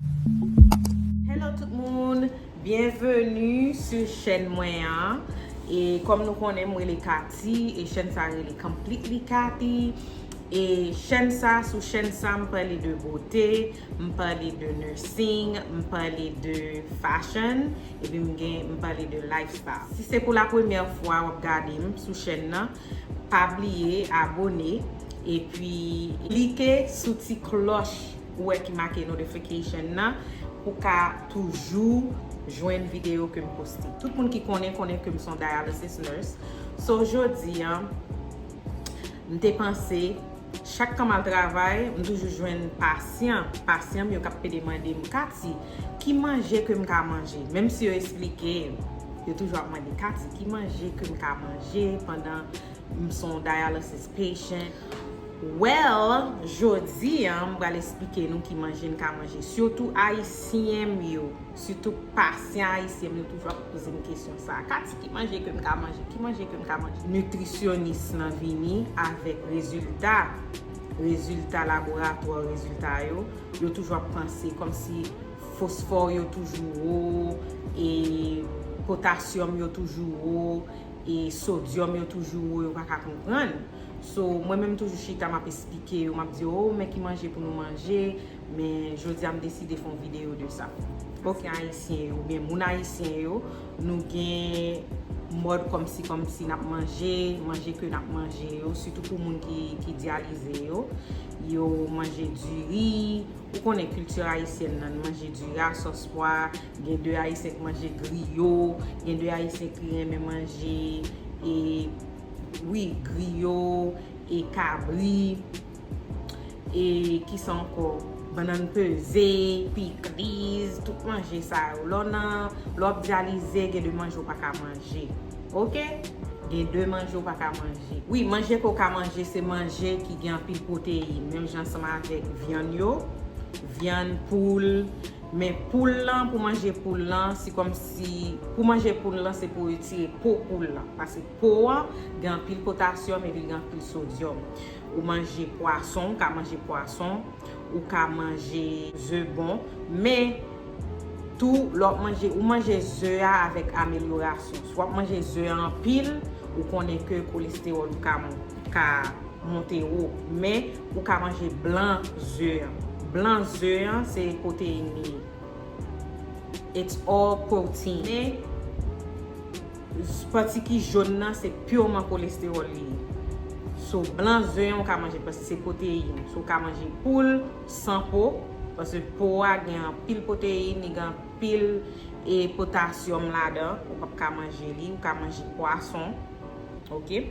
Hello tout moun byenveni su chèn mwen an e kòm nou konnen m rele Katy e chèn sa rele completely Cathy e chèn sa sou chèn sa m pale de bote m pale de nursing m pale de fashion epi m gen m pale de life style si se pou la premyè fwa wap gade m sou chèn nan pa bliye abone epi klike sou ti klòch ou wè ki make notification nan pou ka toujou jwenn video kem poste tout moun ki konnen konnen kem son dialysis nurse so jodi an m te panse chak tan mal travay m toujou jwenn pasyan pasyam yo kap pede mandem kati ki manje kem ka manje menm si yo esplike yo toujou ap mande kati ki manje kem ka manje pandan m son dialysis patient. Well jodi an m pral esplike nou ki manje n ka manje sitou ayisyen m yo sitou pasyan ayisyen m yo toujou ap poze m kesyon sa Katie ki manje ke m ka manje ki manje ke m ka manje nitrisyonis lan vini avèk rezilta rezilta laboratwa rezilta yo yo toujou ap panse kòmsi fosfò yo toujou wo e potasyòm yo toujou wo e sodyòm yo toujou wo yo pa ka konprann So, mwen menm toujou chita map esplike yo, map di yo oh men ki manje pou nou manje, men jodi a m deside fon video de sa. Ok ayisyen yo, oubyen moun ayisyen yo, nou gen mòd kòmsi kòmsi nap manje, manje ke nap manje yo, sitou pou moun ki dyalize yo, yo manje diri, ou konnen kilti ayisyèn nan, manje diri a sòs pwa, gen de ayisyen ki manje griyo, gen de ayisyen ki renmen manje e. Wi griyo e kabri e kisa anko bannan peze pikliz tout manje sa yo lò nan lò ap dyalize gen de manje ou pa ka manje ok gen de manje ou pa ka manje wi manje ke ou ka manje se manje ki gen anpil pwoteyin menm jan ansanm avèk vyann yo vyann poul Men poul lan pou manje poul lan se kòmsi pou manje poul lan se pou retire po poul lan pase po an gen anpil potasyòm epi gen anpil sodyòm ou manje pwason ou ka manje pwason ou ka manje ze bon men tou lè wap manje ou manje ze a avèk amelyorasyon si wap manje ze a anpil ou konnen ke kolestewòl ou ka ka monte wo men Ou ka manje blan ze an. Blan ze an se pwoteyin li ye. It's all protein. Men, pati ki jaune nan se purement cholesterol li ye. So, blan ze an ou ka manje paske se pwoteyin. So, ou ka manje poul san po, paske po a gen anpil pwoteyin, li gen anpil e potassium ladan. Ou pap ka manje li. Ou ka manje pwason. Ok?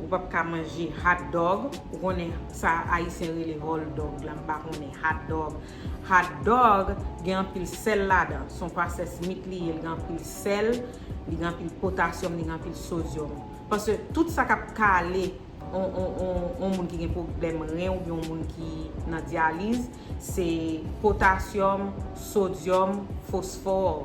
Ou pap ka manje hot dog. Ou konnen sa ayisyen rele hall dog la m pa konnen hot dog. Hot dog gen anpil sèl ladan. Son processed meat li ye li gen anpil sèl, li gen anpil potasyòm, li gen anpil sodyòm. Pase tout sa kap kale yon moun ki gen pwoblèm ren oubyen yon moun ki nan dyaliz se potasyòm, sodyòm, fosfor.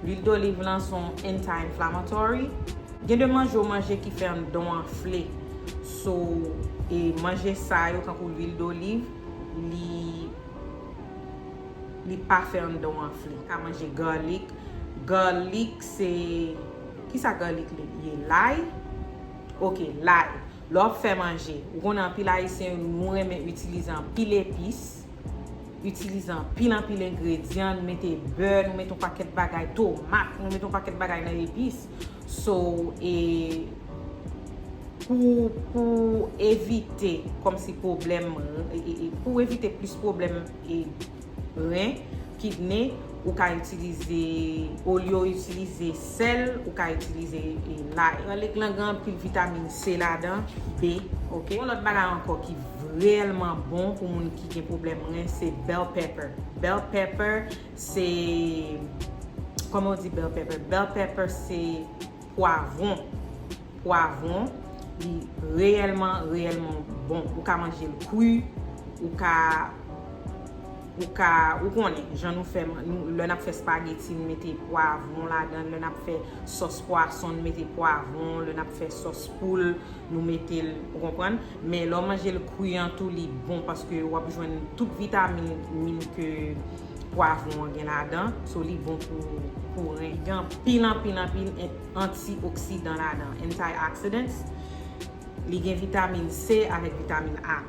Lwil doliv lan son anti inflammatory. Gen de manje ou manje ki fè andan w anfle. So e manje sa yo tankou lwil doliv li li pa fè andan w anfle. Ou ka manje garlic. Garlic se kisa garlic li ye? Lay? Ok lay. Lè w ap fè manje. Ou konnen anpil ayisyen nou renmen itilize anpil epis. Itilize anpil anpil engredyan, nou mete bè, nou mete yon pakèt bagay, tomat, nou mete yon pakèt bagay nan epis. So, e pou evite kòmsi pwoblèm, pou evite plis pwoblèm ren. Kidney ou ka itilize olye w itilize sèl ou ka itilize lay. Garlic lan gen anpil vitamin C ladan, B ok. Yon lòt bagay ankò ki reyèlman bon pou moun ki gen pwoblèm ren se bell pepper. Bell pepper se Kòman w di bell pepper? Bell pepper se. Pwavron, pwavron li reyèlman, reyèlman bon. Ou ka manje l kwi, ou ka, ou ka, ou konnen jan nou fè, lè n ap fè spageti n mete pwavron ladan l, lè n ap fè sòs pwason n mete pwavron, lè n ap fè sòs poul nou mete l, ou konprann? Men lè w manje l kwi an tou li bon paske w ap jwenn tout vitamin min ke. Pwavron an gen ladan, so li bon pou ren. Li gen anpil anpil anpil anti oksidan ladan, antioxidants. Li gen vitamin C avèk vitamin A.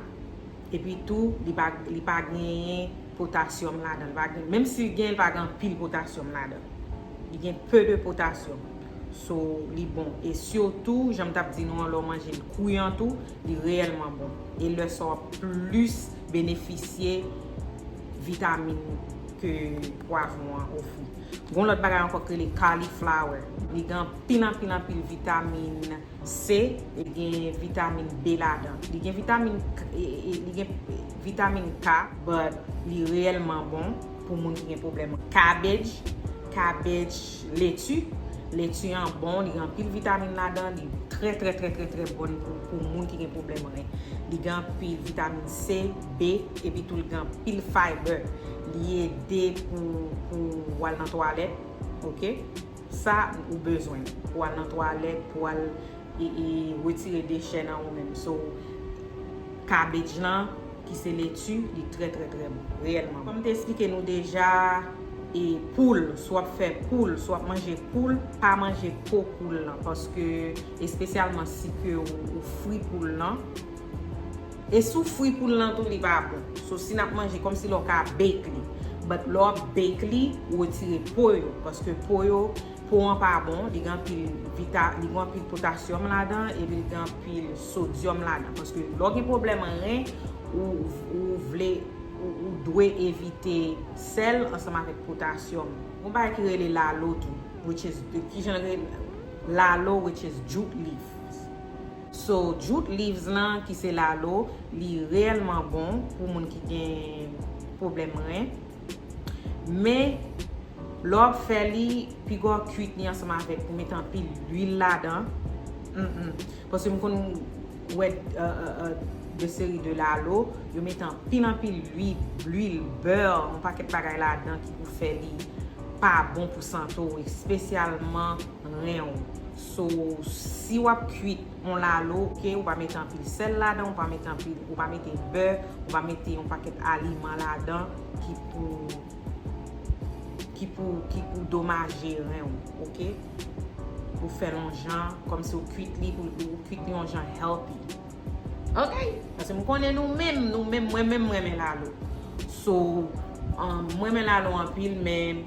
Epi tou li pa genyen potasyòm ladan. Menm si li genyen li pa gen anpil potasyòm ladan. Li gen peu de potasyòm. So li bon. E sitou jan m tap di nou an lè w manje l kri an tou li reyèlman bon. E lè sa w ap plis benefisye. vitamin ke pwavron an ofri. Gon lòt bagay ankò ki rele cauliflower. Li gen anpil anpil anpil vitamin C e li gen vitamin B ladan. Li gen vitamin k li gen vitamin K but li reyèlman bon pou moun ki gen pwoblèm cabbage, cabbage leti. Leti an bon, li gen anpil vitamin ladan, li trè trè trè trè trè bon pou moun ki gen pwoblèm ren. Li gen anpil vitamin C. B epi tou li gen anpil fiber li ede pou ou al nan twalèt ok sa ou bezwen pou ou al nan twalèt pou ou al retire dechè nan ou menm so cabbage lan ki se leti li trè trè trè bon reyèlman kòm m te esplike nou deja e poul si w ap fè poul si w ap manje poul pa manje po poul lan paske espesyalman si ke ou fri poul lan. E sou fwi poul lan tou li pa bon. So si nap manje kòmsi lè w ka bake li. But lè w ap bake li, ou retire po yo. Paske po yo, po an pa bon. Li gen anpil vita, li gen anpil potasyòm ladan epi li gen anpil sodyòm ladan. Paske lè w gen pwoblèm ren, ou vle, ou dwe evite sèl ansanm avèk potasyòm. Gon bagay ki rele lalo tou. Which is, kijan l rele? Lalo which is jute leaf. So jute leaves lan ki se lalo li reyèlman bon pou moun ki gen pwoblèm ren. Men lè w ap fè li piga w kuit li ansanm avèk ou mete anpil luil ladan. Paske m konn wè de seri de lalo yo mete anpil anpil luil, beurre, yon pakèt bagay ladan ki pou fè li pa bon pou sante w espesyalman ren w. So si wap kwit yon lalo ok ou pa mete anpil sèl ladan ou pa mete anpil ou pa mete bè ou pa mete yon pakèt aliman ladan ki pou ki pou ki pou domaje ren ou ok ou fèl yon jan kòmsi ou kwit li pou ou kwit li yon jan healthy ok paske m konnen nou menm nou menm mwen menm m renmen lalo so mwen renmen lalo anpil men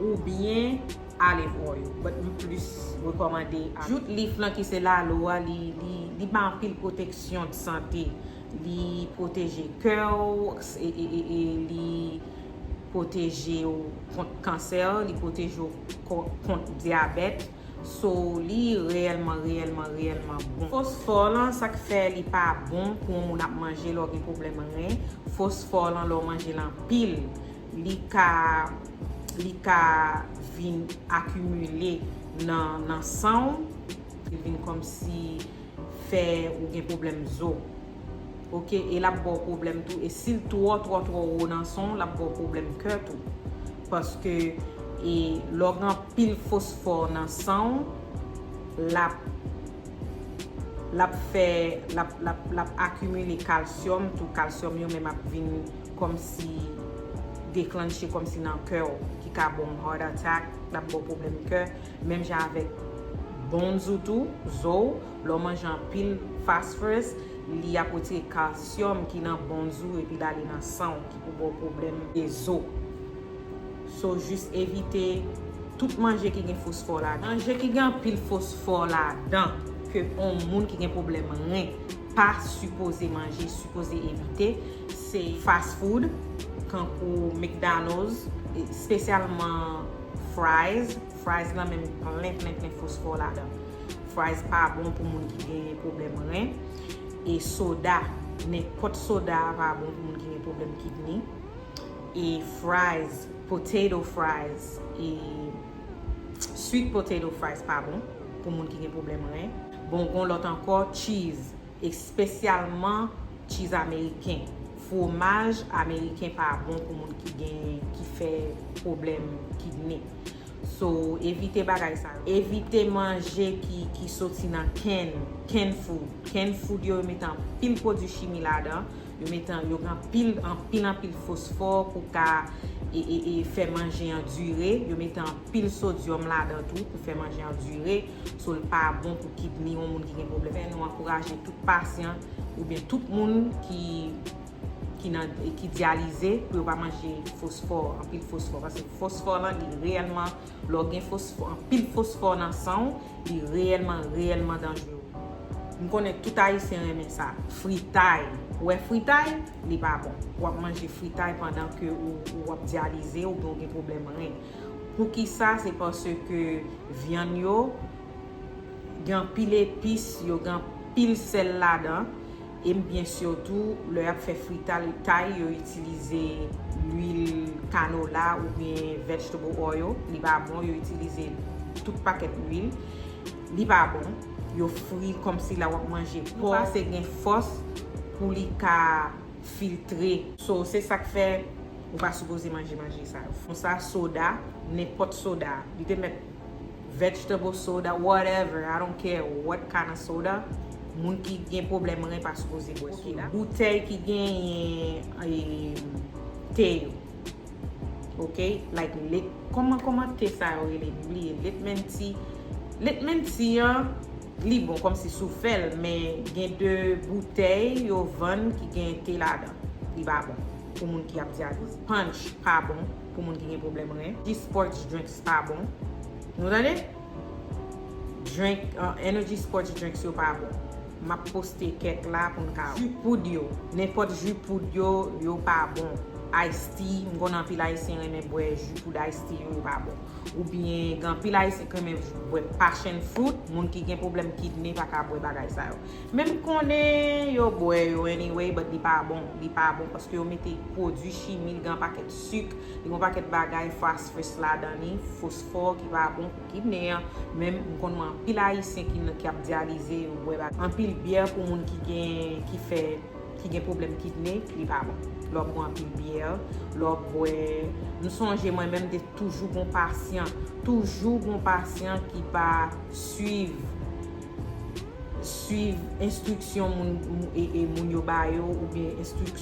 Ou byen ale bro yo. But m plis rekomande ak. Jout lif lan ki se lalo a li bay anpil pwoteksyon de sante. Li pwoteje kè w e li pwoteje w kont kansè, li pwoteje w kont dyabèt. So li reyèlman reyèlman reyèlman bon. Fosfò lan sa k fè li pa bon pou yon moun ap manje lè w gen pwoblèm ren. Fosfò lan lè w manje l anpil li ka li ka vin akimile nan nan san w li vin kòmsi fè ou gen pwoblèm zo ok e lap baw pwoblèm tou e sil twò twò twò wo nan san w lap baw pwoblèm kè tou paske e lè w gen anpil fosfò nan san w lap lap fè lap lap lap akimile kalsyòm tou kalsyòm yo menm ap vin Kòmsi deklannche kòmsi nan kè w ki ka ba w heart attack, lap ba w pwoblèm kè, menm jan avèk bones ou tou, zo w, lè w manje anpil phosphorous li ap retire calcium ki nan bones ou epi l ale nan san w ki pou ba w pwoblèm de zo. So jis evite tout manje ki gen fosfò ladan. Manje ki gen anpil fosfò ladan ke on moun ki gen pwoblèm ren pa sipoze manje, sipoze evite, se fast food tankou McDonald's spesyalman fries, fries lan menm plen plen plen fosfò ladan fries pa bon pou moun ki gen pwoblèm ren e soda nenpòt soda pa bon pou moun ki gen pwoblèm kidney e fries potato fries e sweet potato fries pa bon pou moun ki gen pwoblèm ren bon gon lòt ankò cheese. Espesyalman cheese ameriken. Fwomaj ameriken pa bon pou moun ki gen ki fè pwoblèm kidney. So evite bagay sa yo. Evite manje ki soti nan can, canned food. Canned food yo yo mete anpil pwodwi chimi ladan. Yo mete yo gen anpil anpil anpil fosfò pou ka fè manje an dire. Yo mete anpil sodyòm ladan tou pou fè manje an dire. So l pa bon pou kidni yon moun ki gen pwoblèm kidni. Nou ankouraje tout pasyan oubyen tout moun ki dyalize pou yo pa manje fosfò, anpil fosfò. Paske fosfò lan li reyèlman, lè w gen fosfò, anpil fosfò nan san w, li reyèlman, reyèlman danjre w. M konnen tout Ayisyen renmen sa, fritay. Ou wè fritay, li pa bon. Ou ap manje fritay pandan ke ou ap dyalize oubyen ou gen pwoblèm ren. Pou ki sa? Se paske vyann yo gen anpil epis, yo gen anpil sèl ladan. E m byen si w tou, lè y ap fè fritay, yo itilize luil kanola oubyen vegetable oil. Li pa bon, yo itilize tout pakèt luil. Li pa bon. Yo fri kòmsi la w ap manje pò. Li pase gen fòs pou li ka. filtre. So se sak fè ou pa sipoze manje manje sa yo. Fon sa soda, nenpòt soda. Li te mèt vegetable soda, whatever, I don't care what kind of soda, moun ki gen pwoblèm ren pa sipoze bwè soda. Boutèy ki genyen te yo. ok like let kòman kòman te sa yo rele m bliye let men ti let men ti an li bon kòm si sou fè l men gen de boutèy yo vann ki gen te ladan li pa bon pou moun ki ap dyaliz panch pa bon pou moun ki gen pwoblèm ren ti spòts drinks pa bon nou tande Drink energy sports drinks yo pa bon. Map poste kèk la poun ka wè. Ju poud yo. Nenpòt ju poud yo, yo pa bon. Ice tea, m konnen anpil ayisyen renmen bwè ju poud ice tea yo, yo pa bon. Oubyen gen anpil ayisyen ki renmen bwè passion fruit, moun ki gen pwoblèm kidney pa ka bwè bagay sa yo. Men m konnen yo bwè yo anyway but li pa bon, li pa bon paske yo mete pwodui chimi, li gen anpakèt suk, li gen anpakèt bagay phosphorus ladan li. fò ki pa bon pou ki nè menm m konn mwen anpil ayisyen ki nan ki ap dyalize yo bwè bagay anpil byè pou moun ki gen ki fè ki gen pwoblèm kidne li pa bon lè wap bwè anpil byè lè wap bwè m sonje mwen menm te toujou gon pasyan toujou gon pasyan ki pa swiv swiv enstriksyon moun e moun yo ba yo oubyen enstriksyon.